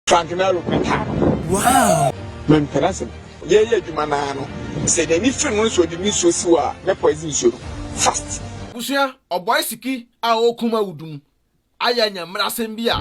Frank Nero Quinta. Wow! Mempɛ n'asɛm. Yɛyɛ adwuma naa no, sɛ n'ani firi no nso ɔde nisuo si hɔ a na poison nsuo no. Fast. Abusua, ɔbɔe siki a ɔrekum awudu mu ayɛ anyamerasɛm bi a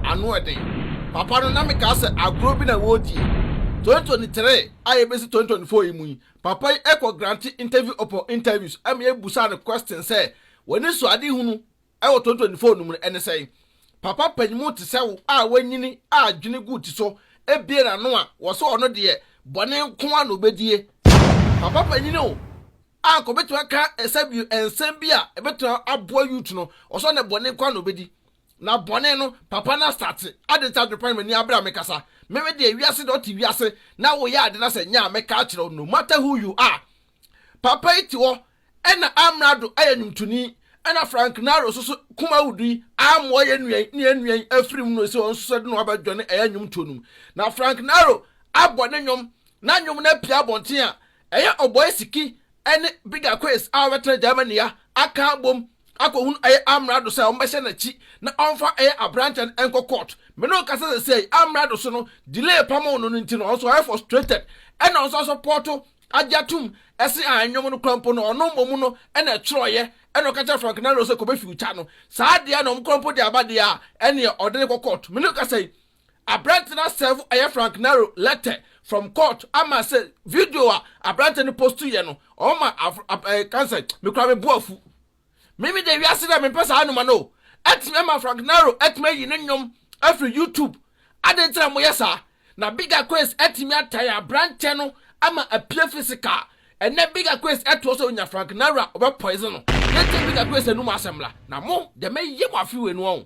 ano yɛ den. Papa no, na mekaa sɛ agorɔ bi na wɔredie. 2023 a yɛbɛsi 2024 yi mu yi, papa yi kɔ grante interview upon interviews ma yɛbusaa no questions sɛ, w'ani sɔ adehunu? wɔ 2024 no mu no, ɛne sɛn? Papa panyimmu te sɛ wo a wanyini a adwene gu ti so abue n'ano a wɔse ɔno deɛ bɔne nko ara na obedie. Papa panyin o, a anka obetumi aka ɛsɛ bio nsɛm bi a ebetumi aboa youth no, ɔse ɔne bɔne nko ara na obedi. Na bɔne no, papa no astate, adɛn nti adwene pan m'ani abere a mekasa? Meme deɛ wiase deɛ ɔte wiase na woyɛ ade na sɛ nyɛ a mɛka akyerɛ wo no matter who you are. Papa yi te hɔ na amrado yɛ nwomtoni na Frank Naro nso so kum awudu yi ammoa yɛn nua yi ne yɛn nua yi afiri mu no sɛ ɔno nso so de no aba dwane ɛyɛ nnwomtoɔ no mu. Na Frank Naro abɔ ne nnwom na nnwom no apia abɔnten a ɛyɛ Ɔbɔe Siki ne Bigger Quiz a wɔbɛtena Germany a aka abom akɔhunu ɛyɛ amrado sɛ wɔbɛhyɛ n'akyi na ɔmfa ɛyɛ aberanteɛ no nkɔ court. Me ne wo kasa sɛsɛɛ yi amrado so no delay pamoo no no nti no ɔno nso ɔyɛ frustrated ɛna ɔno nso asɔpɔɔto agye atom se ah nnwom no kora mpo no ɔno mmom no na ɛtwerɛeɛ ɛna ɔka kyerɛ Frank Nero sɛ kɔbɛ future no saa adeɛ na ɔmo kora mpo de aba deɛ a ɛneɛ ɔde no kɔ court mene kasa yi aberante no asɛɛvo ɛyɛ Frank Nero lɛtɛ from court ama sɛ video a aberante no postu yɛ no ɔmo ma af af ɛɛ kansɛ mekora me bo afu Me me deɛ wiase deɛ mempɛ saa noma no o Ɛtumi ama Frank Nero atumi ayi ne nnwom afiri YouTube Adɛn nti na moyɛ saa? Na Big Aquace atumi ataa aberanteɛ no ama apue physical Ɛnnɛ Big Aquace ɛtoɔ sɛ ɔnya Frank Nero a ɔbɛ poison no Yɛntie Big Aquace anum asɛm mmra Na mo deɛ mɛyɛ mo afe wei no wahu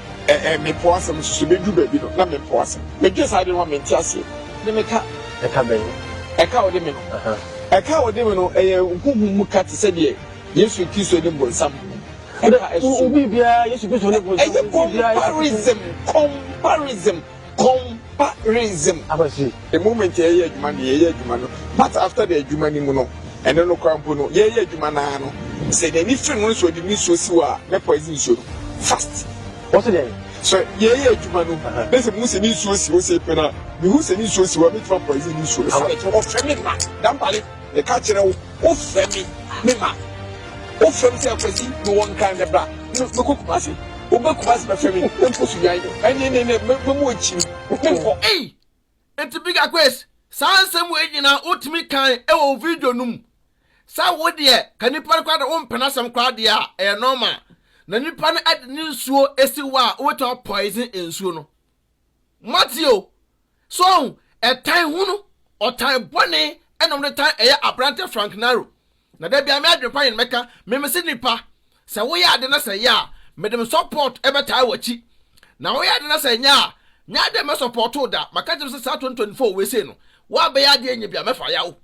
Ɛ ɛ me po asɛm nso so bɛ duru baabi no na me po asɛm me dwen saa adwene ho a me nte aseɛ de me ka. Ɛka bɛn no? Ɛka a ɔde me no. Aha. Ɛka a ɔde me no ɛyɛ honhom mu ka te sɛ deɛ Yesu Kristo ne bonsam ho ɛka ɛso. Wo biribiara Yesu Kristo ne bonsam ho biribiara. Ɛyɛ comparison comparison. Comparison. Akwasi, the moment yɛyɛ adwuma no yɛyɛ adwuma no but after the adwuma no mu no ɛno no kora mpo no yɛyɛ adwuma no ara no sɛ n'ani firi no nso ɔde ne nsuo si hɔ a ne poison nsuo no fast. Wɔsi dɛn? So yɛyɛ adwuma no na sɛ mu sɛ ne nsuo si hɔ sɛ pɛ na mehu sɛ ne nsuo si hɔ a mɛtumi apoison ne nsuo no. Ɔfɛ me ma dampale. Meka kyerɛ wo, wofrɛ me, meba. Wofrɛ me sɛ, Kwasi, mewɔ Nkran nnɛ, bra. Me, mekɔ Kumasi. Woba Kumasi bɛfrɛ me, menkɔ Sunyani. Ɛnne, ɛnne, ɛnne, me, memu akyiri, menkɔ. Ei! Enti Big Aquace, saa nsɛm wei nyinaa wotumi kae wɔ wo video no mu. Sɛ wo deɛ, ka nipa no koraa deɛ wompɛ n'asɛm koraa deɛ a, ɛyɛ normal. Na nipa no de ne nsuo asi wo a, wobɛtumi a poison nsuo no. Moate o. So ahu? Ɛtan hunu, ɔtan bɔne ɛna wɔde tan ɛyɛ aberante Frank Naro. Na da biara me adwenpa yɛn mɛka me mese nipa, sɛ woyɛ ade na sɛ ɛyɛ a, mede me support ɛbɛtaa wakyi. Na woyɛ ade na sɛ ɛnyɛ a, nyɛ adɛn mɛsupportoo da. Maka kyerɛ me sɛ saa 2024 wei sei no, Woabɛyɛ adeɛ nyɛ bi a mɛfa yaw.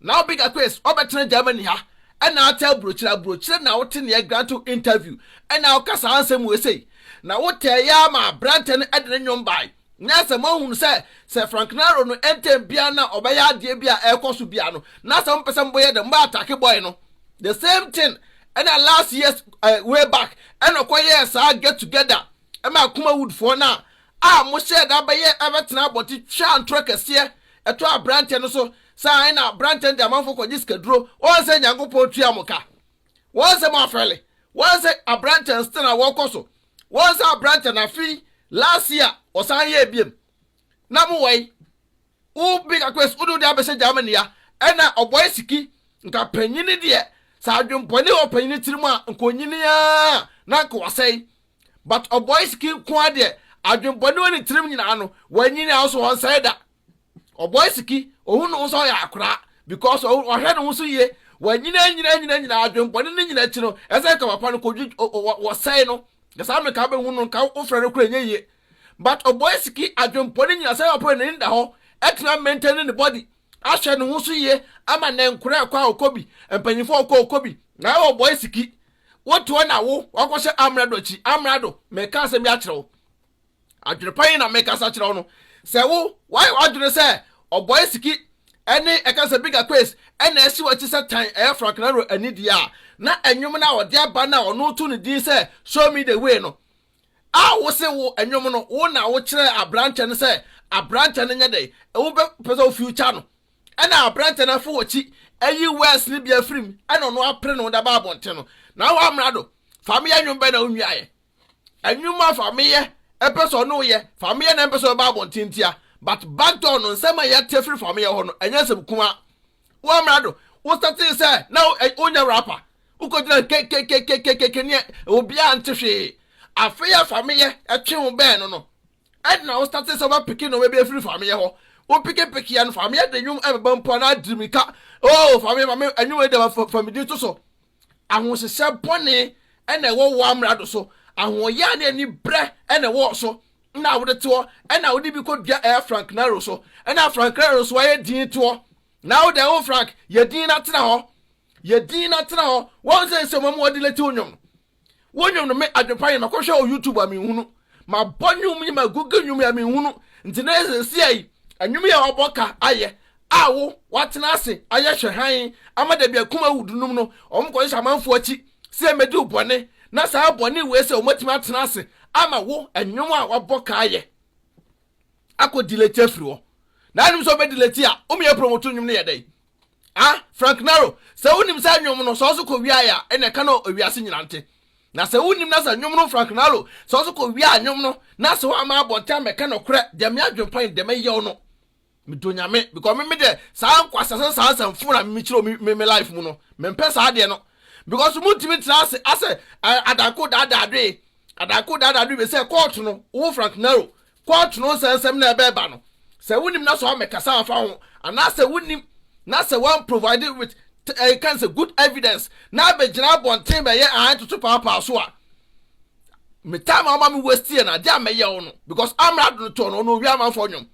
Now big aquace ɔbɛtena Germany ha ɛna ate abrokyire abrokyire na wote neɛ grant wo interview ɛna woka saa nsɛm wei sei na wotɛɛ yɛ ara ma abrantɛ no ɛde ne nwom bae nyɛ sɛ moahunu sɛ sɛ Franknaro no ɛntɛm biara na ɔbɛyɛ adeɛ bi a ɛkɔ so biara no na sɛ mopɛ sɛ mobɔ yɛ dɛ mobɛ atake boy no the same thing ɛna last years uh, way back ɛna ɔkɔ yɛɛ saa get together ɛma Akuma Woodfoɔ no a a mohyɛɛ da bɛyɛ bɛtenaa abɔnten twaa ntorɔ kɛseɛ ɛtɔɔ aberanteɛ no so, saa ara na aberanteɛ no de amanfoɔ kɔgye sikaduro, wɔn sɛ Nyankopɔn tua mo ka, wɔn sɛ moafɛle, wɔn sɛ aberanteɛ nsetena a wɔrekɔ so, wɔn sɛ aberanteɛ no afe yi, last year, wɔsan yɛɛ biom, na mowɔ yi, wo Big Aquarius wode wo deɛ abɛhyɛ Germany a, ɛna ɔbɔe siki, nka panyini deɛ, sɛ adwenbɔne wɔ panyini tirim a, nka ɔnyini ara, na nka wasɛe. But ɔbɔe siki nkoaa deɛ adwen bɔne wɔ ne tirim nyinaa no wanyi ne house ɔnsɛe da ɔbɔe siki ohu ne ho sɛ ɔyɛ akoraa because ɔhwɛ ne ho so yie wanyina nyina nyina nyina adwen bɔne ne nyina akyi no ɛsɛ nka papa no kɔdwi wɔsɛe no ɛsaa me nka bɛhu no nka wofrɛ no kora nyɛ yie but ɔbɔe siki adwen bɔne nyina sɛ ɔpɛ n'ani da hɔ ɛtumi maintain ne body ahyɛ ne ho so yie ama nnɛ nkora ɛkɔ a ɔkɔ bi, mpanyinfoɔ ɔkɔ ɔkɔ bi, na ɛwɔ bɔɛ siki, wo toɔ na wo wakɔ hyɛ amrado akyi, amrado, meka asɛm bi akyerɛ wo, adwene pa yi na meka sa kyerɛ wo no, sɛ wo wayɛ wadwene sɛ ɔbɔɛ siki ɛne ɛka sɛ bigger quiz ɛna ɛsi wakyi sɛ tan ɛyɛ Frank Naro anidie a, na ɛnwom no a ɔde aba no a ɔno to ne din sɛ show me the way no, a wose wo nnwom no wo na wokyerɛɛ aberanteɛ no sɛ aberanteɛ no nyɛ dɛn wobɛpɛ sɛ wo future no ɛna aberanteɛ no afo wɔkyi ayi west no bia firim ɛna ɔno apere no daba abɔnten no na wo amena do fa meyɛ nnwom bɛn na wonwiaeɛ nnwom a fa meyɛ ɛpɛ sɛ ɔno yɛ fa meyɛ na ɛmpɛ sɛ ɔbɛba abɔnten tia but backdoor no nsɛm a yɛte firi fa meyɛ hɔ no ɛnyɛ nsɛm kuma Woammra do. Wosɛtsee sɛ na wonyɛ rapper. Wokogyina nkekekekekeke ne obiara nntse hwee. Afei a Fameyɛ twee wo bɛɛn no no, nna wosɛtsee sɛ wobɛpeke ndzɛmba bi efir Fameyɛ hɔ. Wopekepekeɛ no, Fameyɛ dze ndwom bɛba mpo a na adze mirika, Oh, Fameyɛ ma me ndwom yi dɛm, fa me dzin to so. Ahohyehyɛ bɔne na ɛwɔ wo amrado so, ahoɔyaa ne anibrɛ na ɛwɔ wo so, na wode te hɔ, na wode bi kɔ dua ɛɛ Frank Nero so, na Frank Nero so ayɛ din te hɔ, na wode wo Frank, yɛ din na tena hɔ, yɛ din na tena hɔ, wɔn sɛ nsɛmɔ mu wɔde lete wo nnwom no. Wo nnwom no me adwen pa yɛ makɔ hwɛ wɔ YouTube a me nhunu ma bɔ nnwom yi ma Google nnwom yi a me nhunu nti na ɛsɛ si ayi nnwom yi a wabɔ ka ayɛ a wo watena ase ayɛ hwɛ hann ama dabi akum awu dunum no wɔn kɔ hyehyɛ amanfoɔ akyi sɛ yɛ mɛdi wo bɔne na saa bɔne wei sɛ wɔn atumi atena ase ama wo nnwom a wabɔ ka ayɛ akɔ dileti afiri hɔ na anim sɛ ɔbɛ dileti a wɔn yɛ promoto nnwom no yɛ dɛ Ah, Frank Naro, sɛ wonim saa nnwom no, sɛ ɔso kɔ wiaɛ a, ɛna ɛka no ewiase nyina nte. Na sɛ wonim na sɛ nnwom no Frank Naro, sɛ ɔso kɔ wiaɛ a nnwom no, na sɛ woamma abɔnten ammɛka nɔkorɛ, deɛ me adwenpan deɛ mɛyɛw no. Medɔ Nyame, because me medeɛ saa nkwaseasɛm saa nsɛmfoo na me kyerɛw me me life mu no, mempɛ saa adeɛ no. Because montumi ntena ase asɛ adanko daadaa dwee, adanko daadaa dwee sɛ court no, wo Frank Naro, Kɔɔto no nsɛnsɛm na ɛbɛɛba no sɛ wonim na sɛ wɔamɛkasa afa ho anaa sɛ wonim na sɛ wɔn provide with ɛyɛ kan sɛ good evidence na abɛgyina abɔnten bɛyɛ ahan toto paapaa so a me time a ɔma me waste yɛ no adeɛ a mɛyɛ wo no because amra do no tɔɔ no ɔno owia amanfoɔ nnwom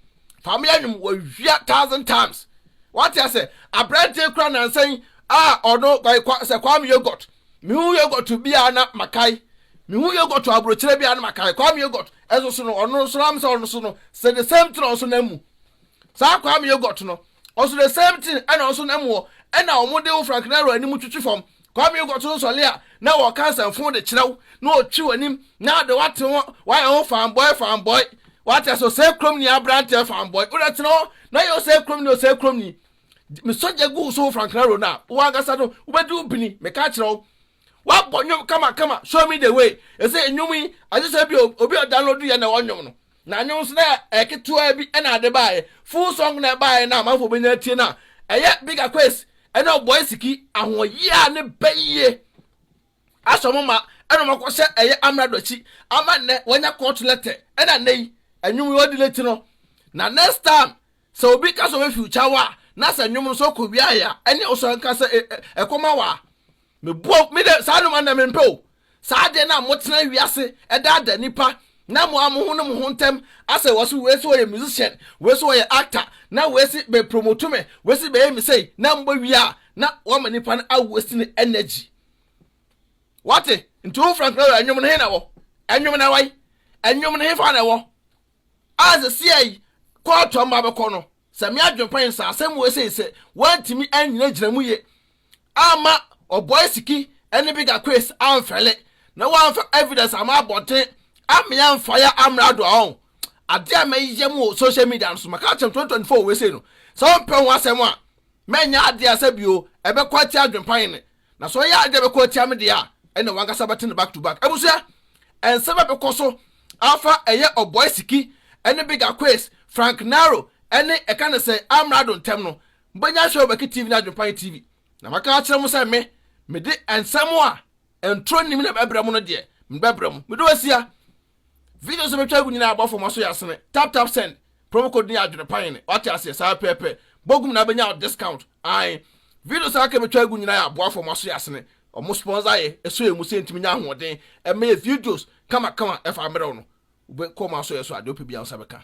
fa meyɛ nnwom wɔwia thousand times wate asɛ aberanteɛ kura nansa yi a ɔno sɛ kwame yogurt mehu yogurt biara na makae mehu yogurt aburokyerɛ biara na makae kwame yogurt Ɛso so no ɔno nso am sɛ ɔno so no sɛ the same thing ɔnso nam mu saa kwame yogurt no ɔso the same thing ɛna ɔnso nam wɔ ɛna wɔn de wo frankinaro anim twitwi fam kwame yogurt no nsɔle a na wɔ cancer mfon de kyerɛw na ɔtwi wɔ anim na ɔde wate ho wayɛ ho fanboy fanboy wate ɛso sɛ kurom ni aberanteɛ fanboy wodɛ tena hɔ na yɛ ɔsɛ kurom ni ɔsɛ kurom ni mesɔgya gu so frankinaro no a wɔn ankasa no wobɛdi wo bini meka kyerɛw Wabɔ nnwom kamakama show me the way. Ɛsɛ nnwom yi ɛsɛ sɛ bi obi a download yɛ na ɔnwom no. Na nnwom nso na ɛketewa bi ɛna ade baeɛ. Full song na ɛbaeɛ na amanfoɔ bɛnya atie no a ɛyɛ Big Aquace ɛne Ɔbɔe Siki ahoɔyea a ne bɛ yie asɔ mo ma ɛna ɔmo akɔ sɛ ɛyɛ amrado akyi ama nnɛ wɔanya court letter ɛna nnɛ yi nnwom yi ɔdi late no na next time sɛ obi ka sɛ ɔbɛfiw kyawa a na sɛ nnwom no sɛ ɔkɔ wiaeɛ a ɛne ɔsɔ nka sɛ ɛkɔma wɔ a Meboa wo, me de, saa nnoɔma no na mempɛ o, saa adeɛ no a motena wiase daadaa nnipa na mo a mo ho ne mo ho ntɛm asɛ wɔ so, wei se ɔyɛ musician, wei se ɔyɛ actor, na wei se bɛ promote me, wei se bɛyɛ me sei, na mobɛ wie a na wama nnipa no a waste ne energy. Wate? Nti wo Frank Lawyer nnwom no he na wɔ? Nnwom no ɛwai? Nnwom no he fa na ɛwɔ? A sɛ siai kɔɔto a mma bɛkɔ no, Sɛ me adwempa yɛ saa, asɛm wɔ ese sɛ wɔantumi annyinagyina mu ye amma Oboisiki ne Bigger Quays amfɛle na wɔamfa evidence amma abɔnten ammea mfaeɛ ammrɛ ado a ɔn adeɛ a mɛyɛ mo wɔ social media no so maka akyerɛ mo 2024 wɔ ese no sɛ ɔmpɛ ho asɛm a mɛnyɛ adeɛ a sɛ bio ɛbɛkɔ atia adwempa yene Na sɛ ɔyɛ ade a ɛbɛkɔ atia me deɛ a, ɛnna w'ankasa bɛte no back to back. Abusua, nsɛm a ɛbɛkɔ so afa ɛyɛ Ɔbɔe Siki ne Big Aquays, Frank Naro ne ɛka ne sɛ Amrado ntam no, mobɛnya ahwɛ wɔ Baki TV ne Adwempan TV. Na maka akyerɛ mo sɛ me, mede nsɛm a ntoro nnim na ɛbɛbrɛ mo no deɛ, mede bɛbrɛ mo. Meda wo asia. Videos a metwa agu nyinaa abɔ fam aso yɛ asene. Tap tap send. Promo code no yɛ adwene pa yene. Wate aseɛ? Saa pɛɛpɛ. Bɔ gum na bɛnya wo discount. Ae. Videos a aka metwa agu nyinaa yɛ aboa fam aso yɛ asene. Ɔmo sponsor yɛ. Ɛsɔ yɛn mu sɛ yɛntumi nya ahoɔden ɛmma yɛ videos kama kama ɛfa mmerɛw no. Wobɛ kɔ ɔmo aso yɛ so a deɛ wopɛ biara wo nsa bɛka.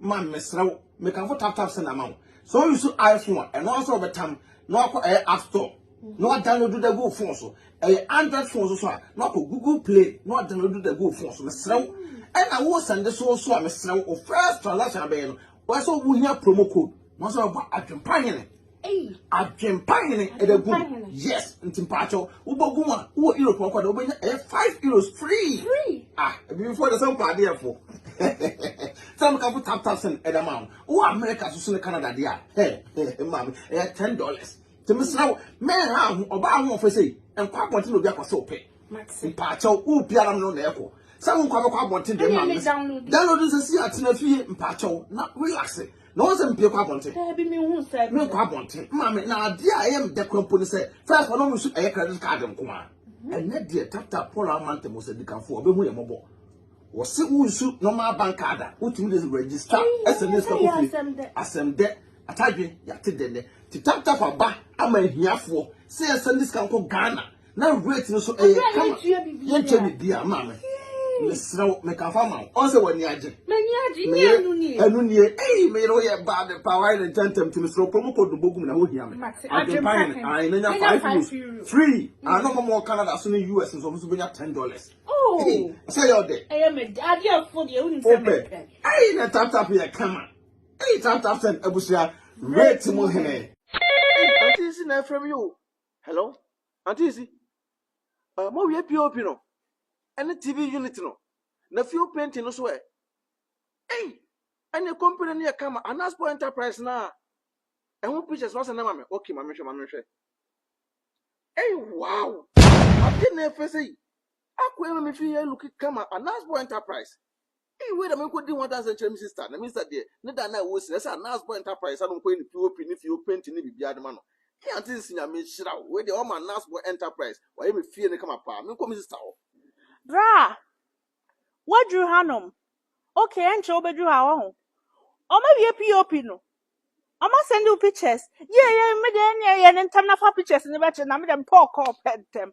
Man mesrɛ wo mekamfo tap tap send ama wo sɛ wo use iPhone a ɛno ara sɛ wɔbɛtam na wakɔ ɛyɛ app store na wadownload da gu wo phone so ɛyɛ android phone so so a na wakɔ google play na wadownload da gu wo phone so mesrɛ wo ɛna wo sɛnde so so a mesrɛ wo first transaction abɛyɛ no wɔsɛ wo hia promo code na wɔsɛ wɔbɔ adwempa hene Adwempa hene ɛbɛ gu yes nti mpatsɔ wobɔ gu a wowɔ europe ɔkɔ dɛ wobɛnya ɛyɛ five euros free ah ebibifo de sɛ mpa adeɛ fo sɛ mo kafo tap tap sɛn ɛda maa mo wowɔ america soso ne canada deɛ a hɛ hɛ maame ɛyɛ ten dollars tèmi sra wo mɛn ha ho ɔbaa ahoɔfɛ sɛ nkɔ abɔnten na obi akɔ sɛ ɔpɛ mpatsɔ wopi anam no na ɛkɔ sɛ wo nkɔ abɛkɔ abɔnten deɛ maame download nsɛ si atena fie mpatsɔ na relax. na wɔn sɛ mpie kɔ abɔnten. Daabi mi hu sɛ. Mi nkɔ abɔnten maame na adeɛ a ɛyɛ mi dɛ kura mpo ne sɛ first wɔn mu nso ɛyɛ credit card nko a. Mhm. Ɛnɛ deɛ tata Paul Amante mo sɛ dikanfo ɔbɛ hu yɛ mɔbɔ. Wɔsi wo nsu normal bank card a wotumi de register ɛsɛ ne sika kofi asɛm dɛ atadwe yate dɛ nɛ ti tap tap aba ama ahiafoɔ sɛ yɛsɛ ne sika nkɔ Ghana na weight no so ɛyɛ kama yɛnkyɛ ne di ama me mesrɛ wo meka fa ma wo ɔn sɛ w'ani agye meyere ɛno nie ei meyere woyɛ bad pa wayɛ ne ntɛntɛm ti mesrɛ wo kɔ mu kɔ dombo gum na hohia me adwempa hene ae menya five euros free ano mama wɔ canada so ne us nso ɔmo so bɛnya ten dollars oh. sɛ yɛ ɔdɛ wopɛ ei na taptap yɛ kama ei taptap sɛn abusua weight mu hene Ati nsi na ɛfrɛ me yo Hello auntie Isi, uh, mo wie POP no, ɛne TV unit no, na fuel painting no so ɛ. Ei, ɛne company no yɛ kama, Anaspo Enterprise na ɛho pictures no asɛ na ma me, okay, ma me hwɛ, ma me hwɛ. Ei, wow, ade na ɛfɛ sɛ yi, akɔ ɛma me fi yɛ looking kama, Anaspo Enterprise. Ei wei na menkɔdi ho adanseɛ nkyerɛ me sista, na me sista deɛ ne da no a ɛwɔ si no ɛsɛ a Nurse Boy Enterprise a na ɔnkɔyɛ ne POP ne fie hɔ painting ne biribiara de ma no. Ei Auntie Nsi Nyame nhyira wo, wei deɛ woama Nurse Boy Enterprise wayɛ me fie no kama paa, menkɔ me sista hɔ. Braa! Woaduru hanom? Ok, ɛnkyɛ wobɛduru ha wahu. Wɔawie POP no? Wɔasɛnde wo pictures? Yie yie, me deɛ ɛnneɛ yɛ no ntɛm na fa pictures no bɛkyerɛ na me deɛ mepɛ ɔkɔɔ pɛ ntɛm.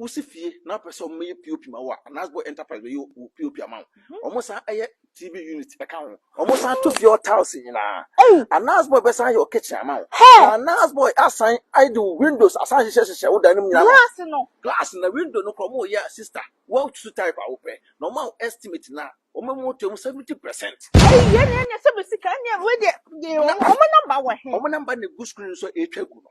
Wosi fie na wopɛ sɛ wɔyɛ POP ma wo a, Anasbo Enterprise bɛyɛ wo POP ama wo. Mhm. Wɔsan yɛ TV unit ka ho. Wɔsan to fie hɔ tiles nyinaa. Ei! Anasbo bɛsan yɛ wo kitchen ama wo. Hɛ! Na Anasbo asan ayɛ de wo windows asan hyehyɛ hyehyɛ wo dan no mu nyinaa. Glass no. Glass na window no kora wɔyɛ a sister, woatutu type a wopɛ. Na wɔma wo estimate no a, wɔma mu to mu 70%. Ei, yɛn na yɛnyɛ sɛ bɛ sika, ɛnneɛ wei deɛ, yɛ wɔn, wɔn namba wɔ he? Wɔn namba na egu screen so a ɛretwa gu no.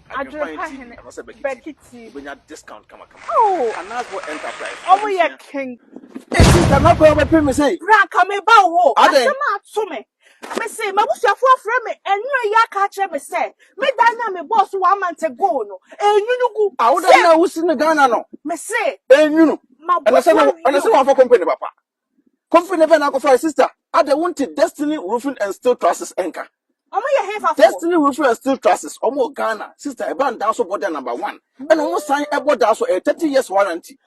Adwerepa hene Bakiti. Oh, ọmụ yɛ king. Esi kama kọ ọbẹ pẹ mi sẹ. Bra nka mi ba wo. Asem a to me. Me se m'abusuafo afrɛ me ɛnura yi aka akyerɛ me sɛ me dan na me bɔɔ so one month ago no enyunu gu. Awo dan na wosi no Ghana no. Me se. Enyunu. Ɛna sɛ na ɛna sɛ wɔn afɔ company papa. Kofi ne Verna kɔfae sister. Adɛ wonte Destiny Roofing and Steel Trusses nka? Ɔmo yɛ hefa fo? Destiny Roofing and Steel Trusses, ɔmo wɔ Ghana, sister ɛba no daa so bɔ dɛ number one. Ɛna ɔmo san ɛbɔ daa so, ɛyɛ thirty years warranty.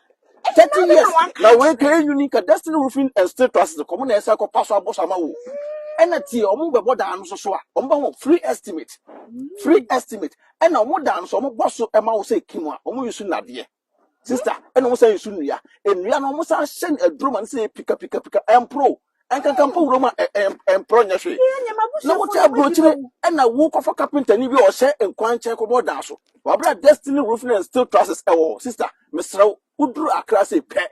Thirty years, na wei ka ɛnwuni ka Destiny Roofing and Steel Trusses kɔ, ɔmo na ɛsan kɔ pa so abɔ so ama wo. Ɛna tie, ɔmo bɛbɔ daa no so so a, ɔmo bɛ ho free estimate, free estimate. Ɛna ɔmo daa no so, ɔmo bɔ so ɛma wo sɛ ɛki mu a, ɔmo use nnadeɛ. Sister, ɛna wɔn san nsu nnua. Nnua no wɔn san hyɛ no aduro ma no sɛ pika pika pika ɛmporo. Ɛnkankan mpo wuram a ɛmporo nyɛ hwee. Na wote aburokyire ɛna wokɔfa kapentani bi a ɔhyɛ nkwan nkyɛn kɔbɔ dan so. Wabra destiny roofing and steel trusses ɛwɔ hɔ. Sister, mesrɛ wo, woduru Accra sei pɛ,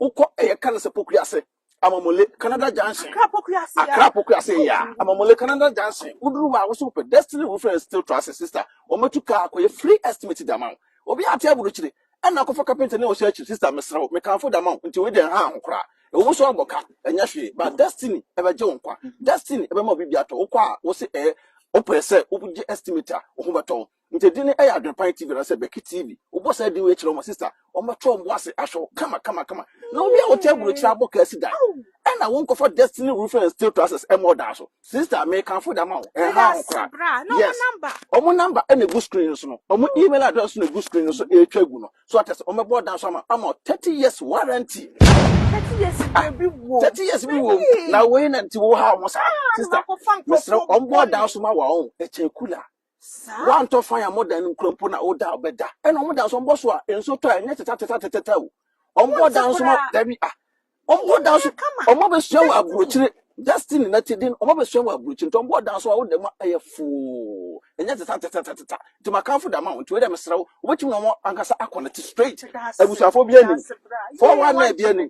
Wokɔ ɛyɛ ka no sɛ pokua ase amamole canada junction akra pokua ase akra pokua ase ya amamole canada junction woduru hɔ a wosi wopɛ destiny roofing and steel trusses sister wɔn atu kaa akɔyɛ free estimate de ama wo obi ate aburukyiri ɛna akɔfa kapenta ne ɔhyɛ akyi sister mesrɛ wo mekanfo de ama wo nti wei deɛ ha ho koraa ɛwɔ mu so abɔ ka ɛnyɛ hwee ba destiny ɛbɛgye wo nkwa destiny ɛbɛma obi bi atɔ wokɔ a wose ɛyɛ wopɛ sɛ wogye estimate a wo ho bɛtɔ wo Nti din no yɛ Adwenpan TV anaasɛ Bɛki TV. Wobɔ saa din wei kyerɛ wɔn sister, wɔbɛto wɔn bo ase ahwɛ wo kama kama kama. Na obi a wote aburokyire abɔ kaa si da. Ɛna wonkɔfa Destiny Roofing and Steel Trusses ɛmmɔ ɔdan so. Sister, mekamfo de ama wo. Ɛnhaw wo koraa. Yes. Wɔn number na egu screen no so no. Wɔn email address nso na egu screen no so ɛretwa agu no. So ate ase, wɔbɛbɔ ɔdan so ama ama 30 years warranty. Thirty years ah, bi wɔ. Thirty years bi wɔ. Na wei na nti wo ha wɔn saa. Ah, Sister, mesrɛ wɔn bɔ ɔdan so ma wɔn. Ɛkyɛn kula. Saa. Wɔntɔ fan a modan no nkura mpo na woda a bɛda. Ɛna wɔn dan so wɔbɔ so a nso tɔ a ɛnyɛ tetɛtetɛtetɛtɛ o. Wɔn bɔ dan so ma dabi a. Wɔn bɔ dan so wɔn abɛsua wɔ aburokyire Justin na ti din wɔn abɛsua wɔ aburokyire nti wɔn bɔ dan so a woda mu ɛyɛ foo ɛnyɛ tetɛtetɛtetɛtɛ nti makanfo da ma wɔn nti wei dɛ mesrɛ wo wobɛtumi na wɔn ankasa akɔ ne te straight abusuafo bi anim fɔwa na ebi anim.